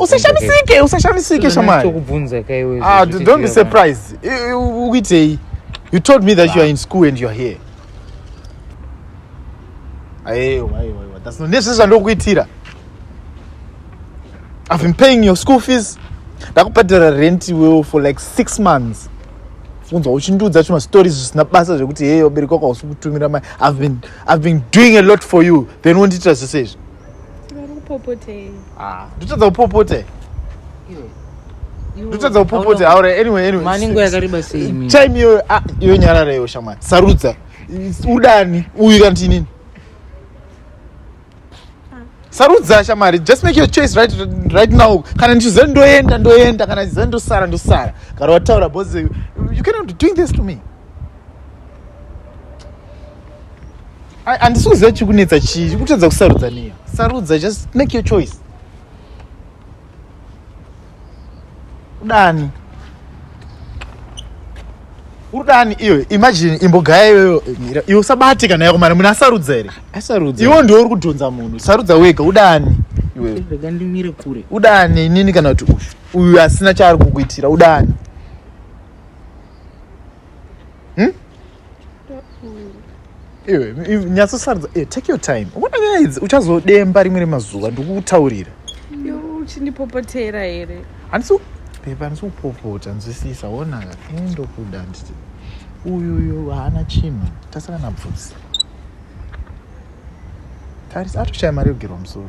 usashamisike usashamisike shamari ah, don't be surprised ukuitei you told me that you are in school and you are here aiwa aiwa aiwa that's not nezvese zvandokuitira i've been paying your school fees ndakubhadhara rent iwewo for like six months unzwa uchindiudza chima stories zvisina basa zvekuti heye wabereki wako hausi kutumira mai i've been, I've been doing a lot for you then wondiitira zvese izvi Ah, ndotadza kupopotei ndotadza kupopotei aure anyway anyway maningo yakareba sei time iyoyo ah, iyo nyarara iyo shamwari sarudza udani uyu kana tinini sarudza shamari just make your choice right, right now kana ndichiziva ndoenda ndoenda kana ndichiziva ndosara ndosara kana wataura bcause you cannot be doing this to me handisi kuziva chiri kunetsa chii kutadza kusarudza neyo sarudza just make your choice udani urudani iwe imagine imbogaya iyoyo mira iwe usabate kana yako mari munhu asarudza here asarudza iwo ndiwo uri kudhonza munhu sarudza wega udani iwewe rega ndimire kure udani inini kana kuti uyu uyu asina chaari kukuitira udani hmm? iwe nyatsosaridza eh, take your time uona nyaya idzi uchazodemba rimwe remazuva ndikukutaurira uchindipopotera here handisi pepa handisi kupopota nzwisisa wonaka ini ndokuda nditi uyuyu haana chinhu tasara nabvudzi tarisa atoshaya mari yogerwa musoro